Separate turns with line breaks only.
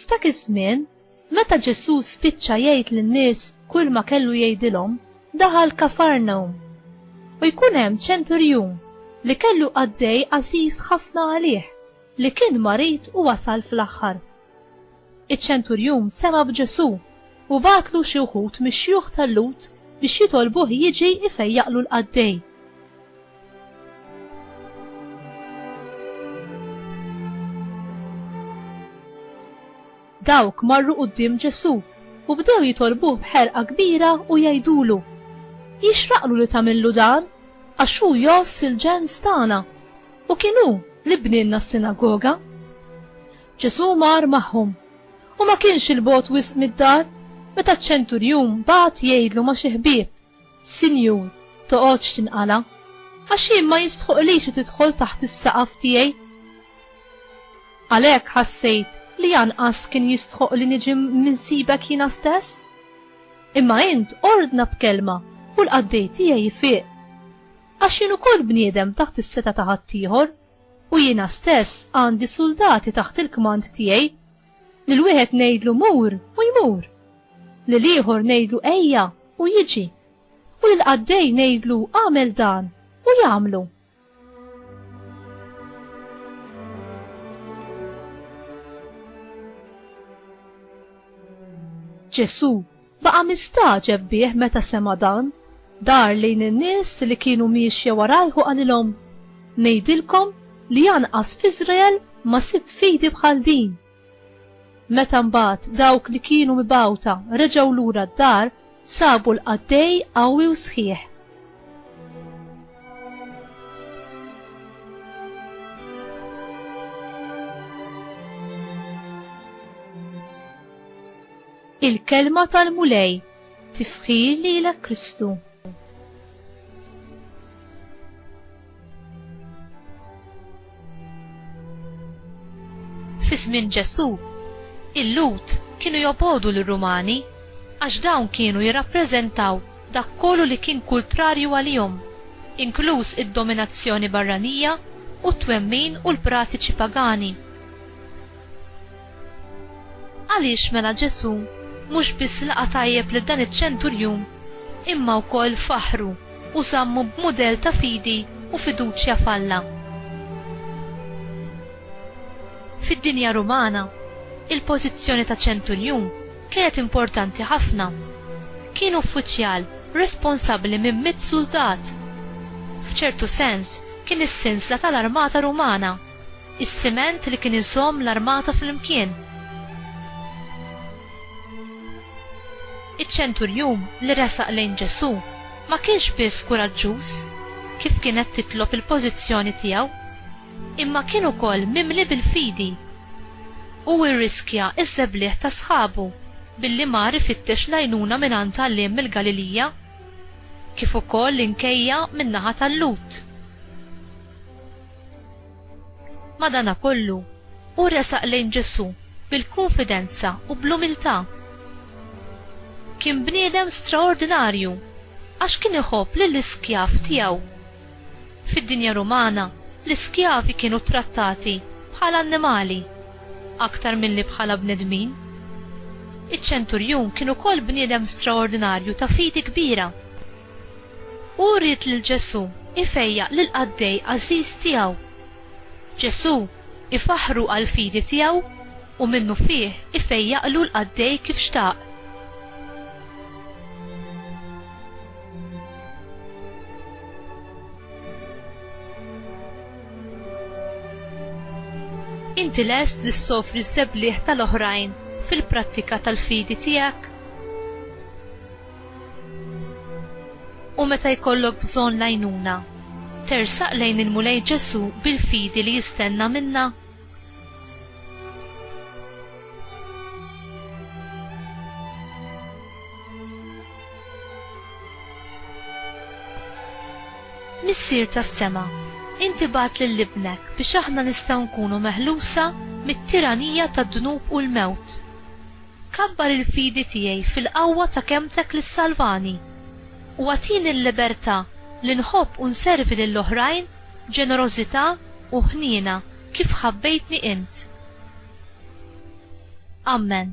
F'dak iż-żmien, meta Ġesù spiċċa jgħid lin-nies kull ma kellu jgħidilhom, daħal Kafarnawm. U jkun hemm ċenturjun li kellu qaddej għażiż ħafna għalih li kien marid u wasal fl-aħħar. Iċ-ċenturjun sema' b'Ġesù u bagħatlu xi wħud mix-xjuħ tal-Lhud biex jitolbuh jiġi jfejjaqlu l-qaddej. Dawk marru quddiem Ġesù u bdew jitolbuh b'ħerqa kbira u jgħidulu, Jixraqlu li tagħmillu dan, għax hu jgħożż il-ġens tagħna, u kien hu li bnielna s-sinagoga. Ġesù mar magħhom, u ma kienx 'il bogħod wisq mid-dar, meta ċ-ċenturjun bagħat jgħidlu ma' xi ħbieb, Sinjur, toqgħodx tinqala', għax jien ma jistħoqqlix li tidħol taħt is-saqaf tiegħi. Għalhekk ħassejt li anqas kien jistħoqq li niġi mminsibek jiena stess? Imma int ordna b'kelma u l-qaddej tiegħi jfiq. Għax jien ukoll bniedem taħt is-setgħa ta' ħaddieħor. U jiena stess għandi suldati taħt il-kmand tiegħi. Lil wieħed ngħidlu mur u jmur. Lil ieħor ngħidlu ejja u jiġi. U lil qaddej ngħidlu għamel dan u jagħmlu. Ġesu Baqa' mistagħġeb bih meta sema' dan, dar lejn in-nies li kienu miexja warajh u qalilhom, Ngħidilkom li anqas f'Iżrael ma sibt fidi bħal din! Meta mbagħad dawk li kienu mibgħuta reġgħu lura d-dar, sabu l-qaddej qawwi u sħiħ. Il-Kelma tal-Mulej, tifħir lilek Kristu. Fis-żmien Ġesù, il-Lhud kienu jobogħdu lir-Rumani għax dawn kienu jirrappreżentaw dak kollu li kien kultrarju għalihom, inkluż id-dominazzjoni barranija u t-twemmin u l-pratiċi pagani. Għaliex mela Ġesù mhux biss laqa' tajjeb lil dan iċ-ċenturjun imma wkoll faħħru u żammu b'mudell ta' fidi u fiduċja f'Alla? Fid-dinja Rumana, il-pożizzjoni ta' ċenturjun kienet importanti ħafna. Kien uffiċjal responsabbli minn mitt suldat. F'ċertu sens kien is-sinsla tal-armata Rumana. Is-siment li kien iżomm l-armata flimkien. Iċ-ċenturjun li resaq lejn Ġesù ma kienx biss kuraġġuż, kif kienet titlob il-pożizzjoni tiegħu, imma kien ukoll mimli bil-fidi. Hu rriskja ż-żebliegħ ta' sħabu billi mar ifittex l-għajnuna mingħand għalliem mill-Galilija, kif ukoll l-inkejja min-naħa tal-Lhud. Madanakollu, hu resaq lejn Ġesù bil-kunfidenza u bl-umiltà. Kien bniedem straordinarju għax kien iħobb lill-iskjav tiegħu. Fid-dinja Rumana, l-iskjavi kienu ttrattati bħala annimali aktar milli bħala bnedmin. Iċ-ċenturjun kien ukoll bniedem straordinarju ta' fidi kbira. Hu ried lil Ġesù jfejjaq lill-qaddej għażiż tiegħu. Ġesù ifaħħru għall-fidi tiegħu u minnufih ifejjaqlu l-qaddej kif xtaq. Inti lest li ssofri ż-żebliħ tal-oħrajn fil-prattika tal-fidi tiegħek? U meta jkollok bżonn l-għajnuna, tersaq lejn il-Mulej Ġesù bil-fidi li jistenna minna? Missier tas-sema, inti bagħat lil Ibnek biex aħna nistgħu nkunu meħlusa mit-tiranija tad-dnub u l-mewt. Kabbar il-fidi tiegħi fil-qawwa ta' kelmtek li ssalvani, u agħtini l-libertà li nħobb u nservi lil oħrajn b'ġenerożità u ħniena kif ħabbejtni int. Ammen.